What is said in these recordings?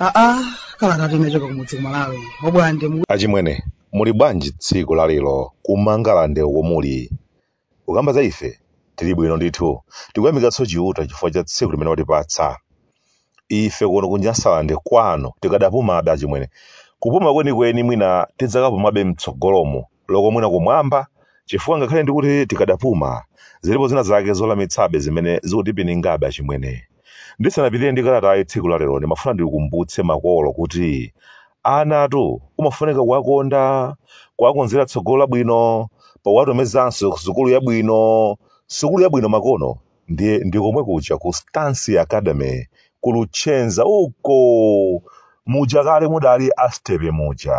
aa kalata yochokera kumudzi ku malawi obwande achimwene muli bwanji tsiku lalero kumangalande uko omuli Kukamba za ife, tili bwino ndithu. Tikuyamikatso Chiuta chifukwa cha tsiku limene watipatsa. Ife kuno ku Nyasaland kwanu tikadapumabe achimwene. Kupuma kwenikweni mwina tidzakapumabe mtsogolomu loko mwina kumwamba chifukwa ngakhale ndikuti tikadapuma, zilipo zina zake zowawitsabe zimene zikutipiningabe achimwene. Ndisanapitirire ndi kalatayi tsiku la lero ndimafuna ndikumbutse makolo kuti anatu umafunika kuwakonda, kuwakonzera tsogolo labwino powatumizanso ku sukulu yabwino. Sukulu yabwino makono ndiye ndi komwe kuja ku Stancy Academy ku Luchenza uko muja kale mudali a Stepe muja.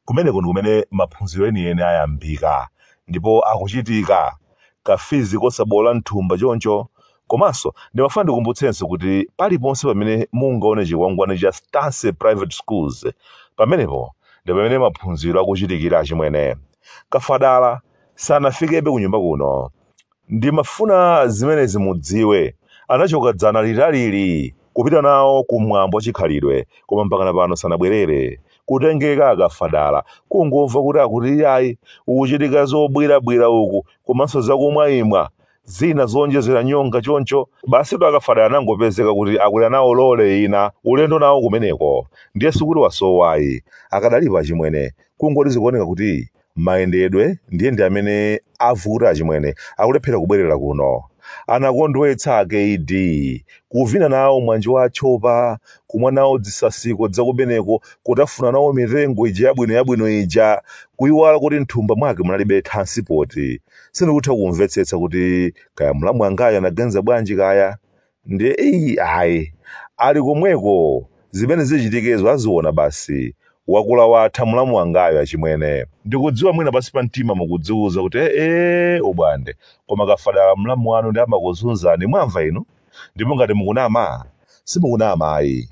Kumeneko ndi kumene maphunziro enieni ayambika ndipo akuchitika. Ka fizi kosaboola m'thumba choncho. Komanso, ndimafuna ndikumbutsenso kuti paliponse pamene mungaone chikwangwani cha Stancy Private Schools, pamenepo ndi pamene maphunziro akuchitikira achimwene. akafadala sanafikebe kunyumba kuno. Ndimafuna zimenezi mudziwe. Anachoka dzana litalili kupita nawo ku mwambo wa chikhalidwe koma mpakana pano sanabwerere. Kutengeka akafadala. Kungomva kuti akuti iyayi kukuchitika zobwirabwira uku komanso zakumwaimwa zina zoonjezera nyonga choncho. Basitu akafadala anangopezeka kuti akwera nawo lole ina ulendo nawo kumeneko. Ndiye sikuti wasowa ayi. Akadali po achimwene. Kungoti zikuoneka kuti Mayendedwe ndiye ndi amene avuta achimwene akulephera kubwerera kuno. Anakondwetsa a kd kuvina nawo mwambo wa atchopa, kumwa nawo dzisasiko dzakumeneko kutafuna nawo mitengo ija yabwino yabwino ija kuiwala kuti mthumba mwake munalibe thansipoti. Sindikutha kumvetsetsa kuti kaya mlamu angayu anaganiza bwanji kaya? Ndiye eyi ayi. Ali komweko, zimene zichitikezo aziona basi. Wakula watha mulamu wangayu achimwene. Ndikudziwa mwina pansi pa mtima mukudziuza kuti eeh obwande koma Kafadala mlamu wanu nde amakuzunzani mwamva inu? Ndipo ngati mukunama simukunama ayi.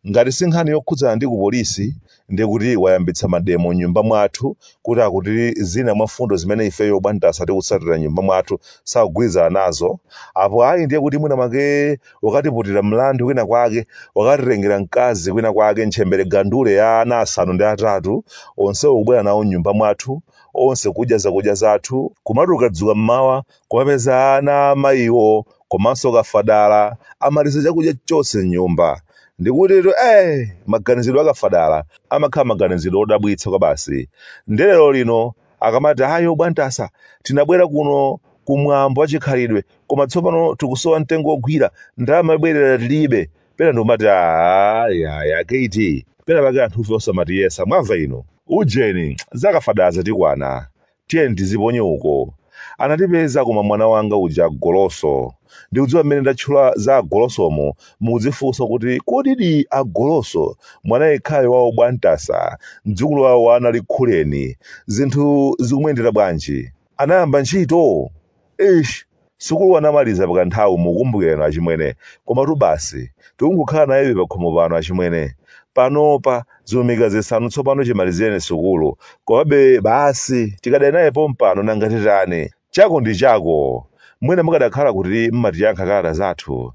Ngati si nkhani yokhudzana ndi ku police ndiye kuti wayambitsa mademo m'nyumba mwathu kuti akuti zina mwa mfundo zimene ifeyo abwantasa tikutsatira m'nyumba mwathu sakugwirizana nazo. Apo ayi ndiye kuti mwina mwake wakatiputira mlandu kwina kwake, wakatitengera mkazi kwina kwake, ntchembere gandule ya ana asanu ndi atatu, onsewo kubwera nawo m'nyumba mwathu, onse kudya zakudya zathu, kumati ukadzuka m'mawa kuwapeza ana a mayiwo komanso kafadala amaliza chakudya chonse m'nyumba. Ndikutitu eeh, maganizidwe a kafadala amakhala maganizidwe odabwitsa kwabasi. Nde lero lino akamati ayi obwantasa tinabwera kuno ku mwambo wachikhalidwe koma tsopano tikusowa mtengo wogwira, ndalama yobwerera tilibe. Pena ndikumati aah yayi kuti pena pake anthufe osamatiyesa mwamva inu. Ujeni, za kafadala zatikwana. Tiyeni tiziponye uko. Anatipeza koma mwana wanga uja agoloso. Ndikudziwa mmene ndatchula za agolosomu mukudzifunsa kuti kodidi agoloso mwana yekhayo wa obwantasa mdzukulu wawo wa a Nalikukuleni zinthu zikumuyendera bwanji? Anayamba ntchito? eish sukulu anamaliza pakanthawi mukumbukirano achimwene komatu basi tikungokhala nayebe pakhomo pano achimwene panopa zilumika zisanu tsopano chimalizireni sukulu komabe basi tikadali naye pompano nanga titani chako ndi chako mwene mukanakhala kuti mmatiyankha kalata zathu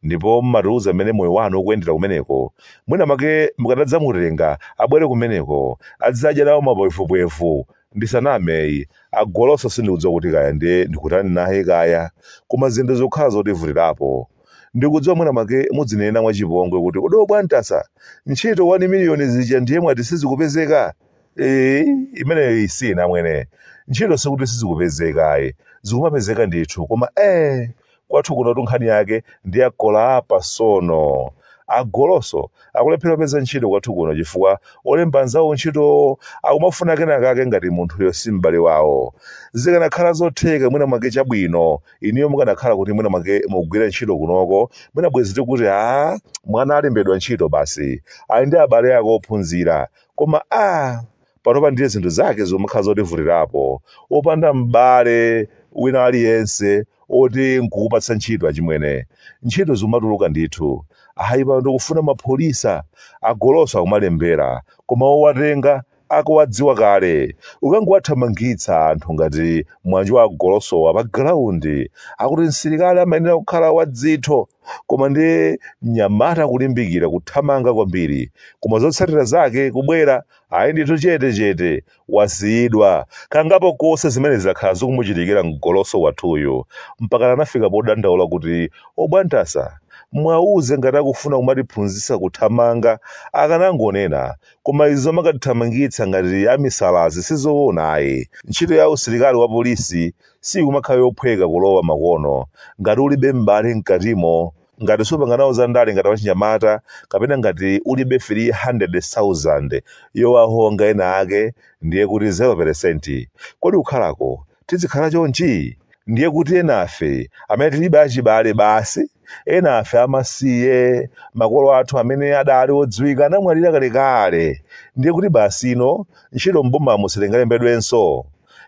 ndipo mmatiuza mmene moyo wanu ukuyendera kumeneko mwina make mukadadzamutenga abwere kumeneko adzadya nawo mapwefupwefu ndisaname ayi agoloso sindikudziwa kuti kaya ndiye ndikutani naye kaya koma zinthu zakhala zotivutirapo ndikudziwa mwina make muzinena mwachipongwe kuti kodi obwantasa ntchito 1 miliyoni zija ndiye mwati sizikupezeka ee imeneyi sina mwene ntchito sikuti sizikupezeka ayi zikumapezeka ndithu koma ee kwathu kuno tunkhani yake ndi akolapa sono agoloso akulephera kupeza ntchito kwathu kuno chifukwa olemba anzawo ntchitowo akumafuna kenakake ngati munthuyo si m'bale wawo zikanakhala zotheka mwina mwake chabwino inuyo mukanakhala kuti mwina mwake mugwira ntchito kunoko mwina bwezi tikuti a mwana alembedwa ntchito basi ali ndi abale ake ophunzira koma a panopa ndiye zinthu zake zomakhala zotivutirapo wopanda m'bale wina aliyense oti nkukupatsa ntchito achimwene ntchito zikumatuluka ndithu ayi pano tikufuna mapholisa agoloso akumalembera koma owatenga akuwadziwa kale kukangowathamangitsa anthu ngati mwana wanga agolosowa pa galaundi akuti msilikali amayenera kukhala wadzitho koma ndiye mnyamata kulimbikira kuthamanga kwambiri koma zotsatira zake kubwera ayi ndithu chete chete wasiyidwa kangapo konse zimene zakhala zikumuchitikira mgoloso wathuyu mpakana anafika podandaula kuti obwantasa muwauze ngati akufuna kumatiphunzitsa kuthamanga akanangonena koma izi zomakatithamangitsa ngati amisalazi sizoona ayi ntchito ya usilikali wa polisi sikumakhala yophweka kulowa makono ngati ulibe m'bale mkatimo ngati supanga nawo za ndale ngati wachinyamata kapena ngati ulibe 300,000 yowahonga ena ake ndiye kuti 0% kodi kukhalako tizikhala chonchi ndiye kuti enafe amene tilibe achibale basi enafe amasiye makolo athu amene adali odziwika anamwalira kalekale ndiye kuti basi ino ntchito m'bomamo sitingalembedwenso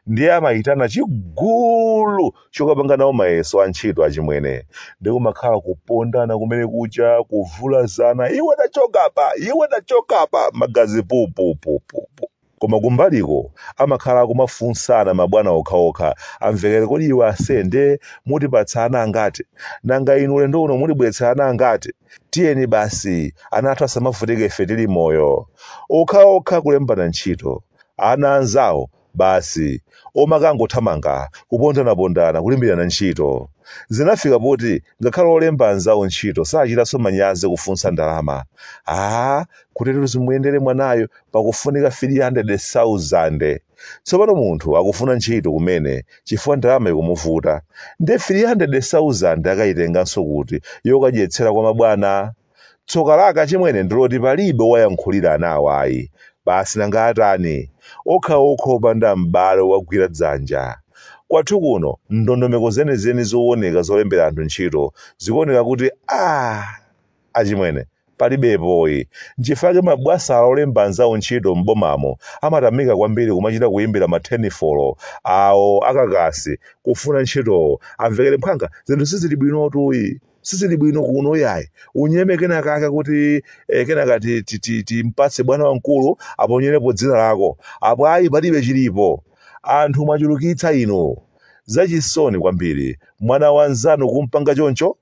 ndiye amayitana chigulu chokapanga nawo mayeso a ntchito achimwene ndi kumakhala kupondana kumene kucha kuvulazana iwe tachoka apa iwe tachoka apa magazi pupupupupu koma kumbaliko amakhala akumafunsana mabwana okhaokha amvekere kodi iwe asende mutipatsa ana angati nanga inu ulendo uno mutibweretsera ana angati tiyeni basi ana athu asamavutike ife tili moyo okhaokha kulembana ntchito ana anzawo basi omakangothamanga kupondanapondana kulimbirana ntchito. Zinafika poti ngakhale olemba anzawo ntchito sachitanso manyazi kufunsa ndalama. Aaa kuteretu zimuyendere mwanayu pakufunika 300,000. Tsopano munthu akufuna ntchito kumene chifukwa ndalama ikumuvuta. Ndiye 300,000 akaitenganso kuti yokadyetsera kwa mabwana? Tsoka lake achimwene ndiloti palibe owayankhulira anawa ayi. Basi nanga atani? Okhaokha opanda m'bale owagwira dzanja. Kwathu kuno ndondomeko zenizeni zowoneka zolembera anthu ntchito zikuoneka kuti aah! Achimwene palibepo ayi. Nchifukwa chake mabwasala olemba anzawo ntchito m'bomamo amatamika kwambiri kumachita kuyimbira mathenifolo awo akakasi kufuna ntchitowo amvekere mphwanga zinthu sizili bwinotu. sizili bwino kuno yayi unyeme kena kake kuti eh, kenaka ti- ti- timpatse bwana wamkulu aponyerepo dzina lako apo ayi palibe chilipo anthu mwachulukitsa inu zachisoni kwambiri mwana wa nzanu kumpanga choncho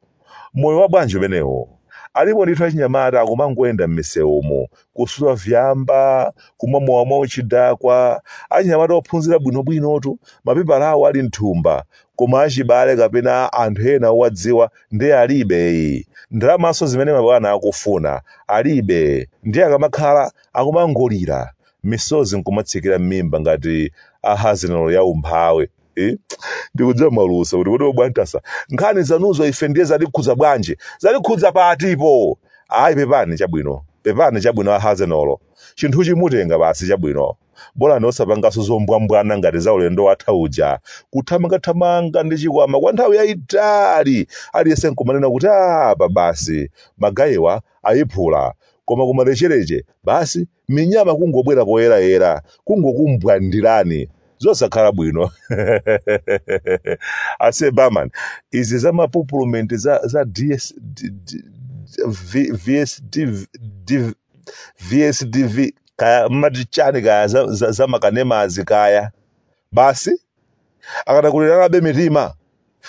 moyo wa bwanji umenewu alipo ndithu achinyamata akumangoyenda m'misewumu kusuta vyamba kumwa mowa mwa uchidakwa achinyamata ophunzira bwinobwinotu mapepala awo ali mthumba koma achibale kapena anthu ena owadziwa ndiye alibe ayi ndalamanso zimene mabwana akufuna alibe ndiye akamakhala akumangolira misozi nkumatsikira m'mimba ngati a Arsenal ya umphawi Eh? ndikudziwa mwalusa kuti kodi o Bwantasa nkhani zanuzo ife ndiye zatikhudza bwanji zatikhudza patipo ayi pepani chabwino pepani chabwino a Arsenal chinthuchi mutenga basi chabwino bolani osapanganso zombwambwana ngati za ulendo watha uja kuthamangathamanga ndi chikwama kwa nthawi yayitali aliyense nkumanena kuti apa basi magayiwa ayiphula koma kumalechereche basi minyama kungobwera poyerayera kungokumbwandirani zosakhala bwino ase barman izi za mapupulumenti za, za VSDV kaya mmati chani kaya za, za, za makanemazi kaya basi akanakuleranabe mitima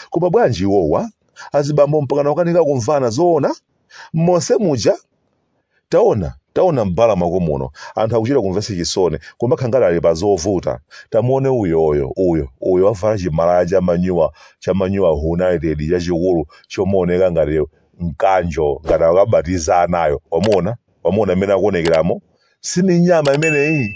koma bwanji iwowa azibambo mpakana ukanika kumvana zoona monse muja Taona, taona m'bala mwako muno, anthu akuchita kumvetsa chisoni, kumakhala ngati ali pa zovuta. Tamuone uyoyo, uyo, uyo wavala chimalaya cha manyuwa, cha manyuwa United chachikulu chomaoneka ngati mkanjo, ngati akabatiza anayo. Wamuona? Wamuona mmene akuonekeramo? Si minyama imeneyi?